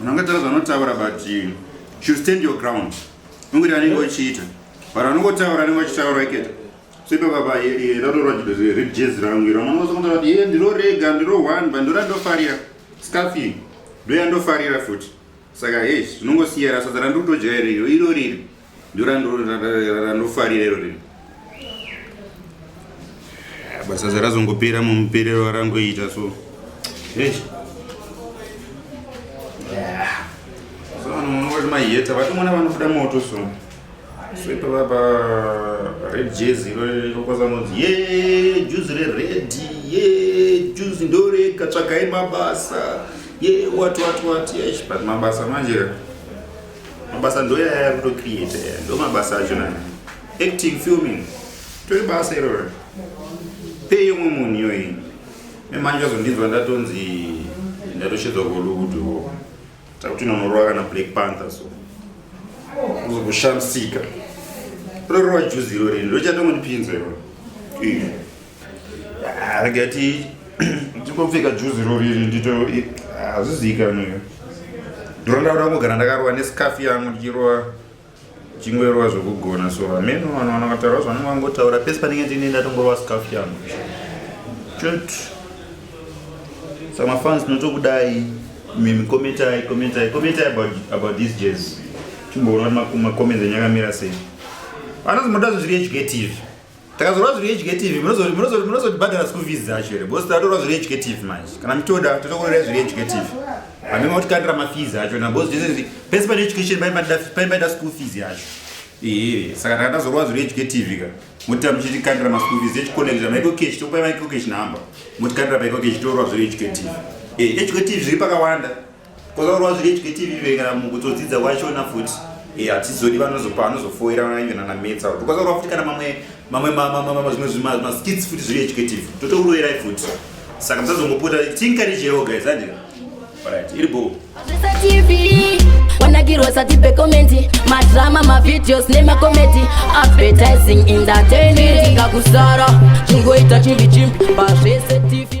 Munhu angataura zvanotaura but you should stand your ground. Ungiri anenge ochiita. But anongotaura anenge achitaura iketa. So ipapa pa ndatorwa jidozire red jazz rangu iro. Mwana wazokonzera kuti iye ndiro rega ndiro one but ndora ndofarira. Scarf iyi. Ndoya ndofarira futi. Saka hey, zvinongosiyana sadza randiri kutodya iro iro riri. ndorandofarira iro rino basa zarazongopera mumuperero warangoita so soanoonokoti maheta vatomona vanobuda moto so so ipapa pa red jezi irokwasanonzi ye juzi reredi ye juzi ndorega tsvakai mabasa ye wati wati wati but mabasa manje mabasa ndoyaya kutocreate ndo mabasa acho nani acting filming tori basa iroro pei yomwe munhu iyoyi memanje azondinzwa ndatonzi ndatoshedzwa kolukuduo takuti nonorova kana black panther so uzokushamisika rorova juzi irori ndochatongonipinza iroro Ah, rega ti ndingopfeka juzi roriri ndito hazviziikanwe ah, ndiro ndauda kugara ndakarowa nesikafi yangu ndichirowa chingoerowa zvokugona so hameno vanhu vana vataura zvanenge vangotaura pese panenge ndine ndatongorowa sikafi yangu chot samafans tinotokudai mimi kometai kometai kometai about, about this jazz timboona kuti makomedzi enyakamira sei anonzi moda zvezviri educative takazorwa zviri educative munozotibhadhara school fees dzacho here because tatorwa zviri educative manje kana mitoda totokorera zviri educative hamima kutikandira mafees acho na because zvese pese pane education paimaida school fees yacho ee saka takatazorwa zviri educative ka motita muchitikandira maschool fees echikonekta maikokechi tokupai maikokechi number motikandira paikokechi torwa zviri educative ee educative zviri pakawanda kwakaurwa zvireitwe tv vekana mukutodzidza kwachona futi eh, hatizodi vanozopa anozofoira ive nanametsa kuti kwakaurwa futi kana mamwe mamwe zvimwe zvimaskits futi zviri educative totouroerai futi saka musazongopota tinkarijewo guys handira right iri boo wanagirwa sati pekomenti madrama mavideos nemakomedi advertising entertainment ngakusara chingoita chimbi chimbi pazvese tv